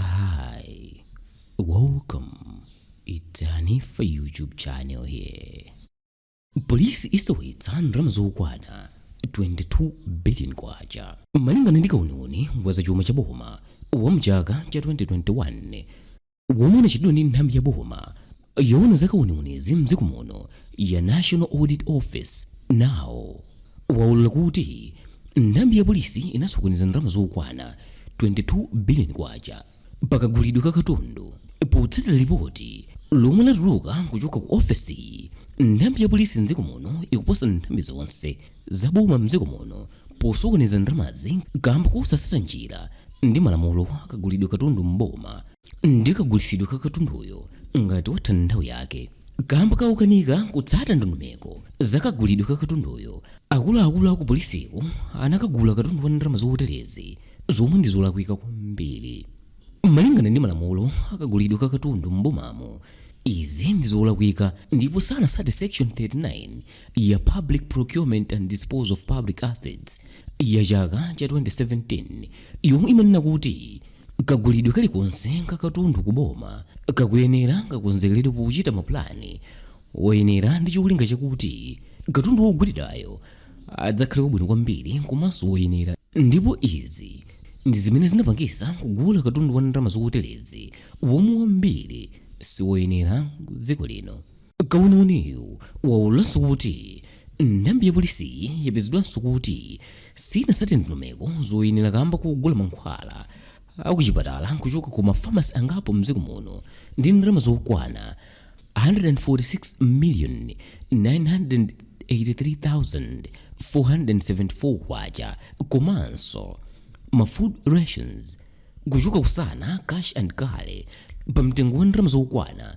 Hi, welcome. It's Hanifa YouTube channel here. Polisi isowetsa ndalama zokwana 22 billion kwacha malingana ndi kauniuni wa zachuma cha boma wa mchaka cha 2021 womwe unachitidwa ndi nthambi ya boma Yoona za kauniunizi mdziko muno ya National Audit Office, nao, waulula kuti nthambi ya polisi inasokoneza ndalama zokwana 22 billion kwacha pa kagulidwe ka katundu. Potsatira lipoti lomwe latuluka kuchoka ku ofesiyi, nthambi ya polisi mdziko muno ikuposa nthambi zonse. za boma m'dziko muno posokoneza ndalamazi kaamba kosasata njira ndi malamulo a kagulidwe katundu m'boma ndi kagulitsidwe ka katunduyo ngati watha nthawi yake. Kaamba ka kukanika kutsata ndondomeko za kagulidwe ka katunduyo, akuluakulu akupolisiko anakagula katundu wa ndalama zoterezi zomwe ndi zolakwika kwambiri. Malingana ndi malamulo akagulidwe ka katundu m'bomamo, izi ndi zolakwika ndipo sanasate section 39 ya Public Procurement and Disposal of Public Assets ya chaka cha 2017 yomwe imanena kuti kagulidwe kalikonse kakatundu kuboma kakuyenera kakonzekeredwe pochita mapulani woyenera ndi cholinga chakuti katundu wogulidwayo adzakhale wabwino kwambiri komanso woyenera ndipo izi ndi zimene zinapangisa kugula katundu wa ndalama zoterezi womwe wambiri siwoyenera dziko lino Kauniuniyu waululanso kuti nthambi ya polisiyi yapezedwanso kuti siyinasate ndondomeko zoyenera kamba kogula mankhwala akuchipatala kuchoka ku ma pharmacy angapo mdziko muno ndi ndalama zokwana 146,983,474 kwacha komanso ma food rations kuchoka ku Sana cash and carry pa mtengo wa ndalama zokwana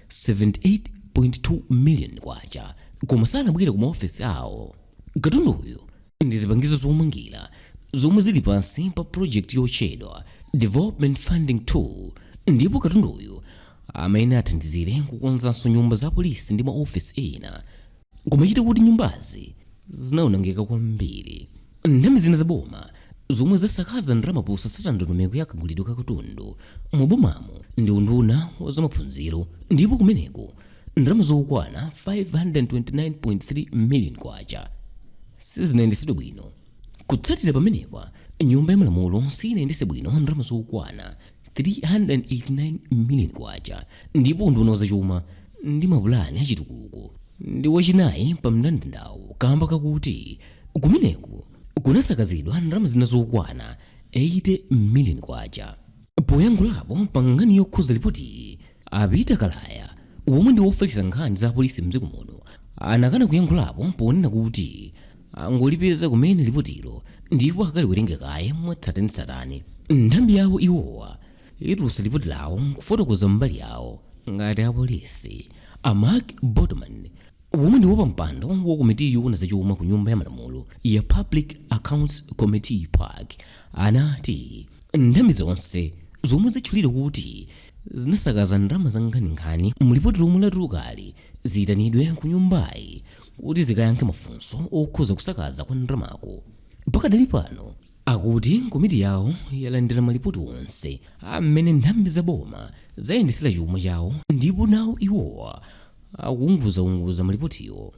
78.2 million kwacha koma sanabwere ku maofesi awo katunduyu ndi zipangizo zomangira zomwe zili pansi pa project yotchedwa development funding 2 ndipo katunduyu amene athandizire kukonzanso nyumba za polisi ndi maofesi ena kumachita kuti nyumbazi zinaonongeka kwambiri nthambi zina zaboma zomwe zasakaza ndalama posasata ndondomeko ya kagulidwe ka katundu mubomamo ndi unduna wa zamaphunziro ndipo kumeneko ndalama zokwana 529.3 million kwacha sizinayendetsedwe bwino kutsatira pamenepa nyumba ya malamulo sinayendetse bwino ndalama zokwana 389 million kwacha ndipo unduna wa zachuma ndi mapulani achitukuko ndi wachinayi pa mndandandawo kamba kakuti kumeneko kunasakazidwa ndalama zina zokwana 80 million kwacha poyankhulapo pa nkhani yokhuza lipoti a peter kalaya womwe ndi wofalitsa nkhani za polisi mdziko muno anakana kuyankhulapo ponena kuti angolipeza kumene lipotilo ndipo akaliwerenge kaye mwatsatanetsatane nthambi yawo iwowa itulutsa lipoti lawo nkufotokoza mbali yawo ngati apolisi a mark botomani womwe ndi wapampando wa komiti yoona zachuma ku nyumba ya malamulo ya public accounts committee pac anati nthambi zonse zomwe zatchulidwa kuti zinasakaza ndalama za nkhaninkhani mlipoti lomwe latulukali ziyitanidwe ku nyumbayi kuti zikayankhe mafunso okhuza kusakaza kwa ndalamaku pakadali pano akuti komiti yawo yalandira malipoti onse amene nthambi za boma zayendetsera chuma chawo ndipo nawo iwowa akuunguzaunguza malipotiwo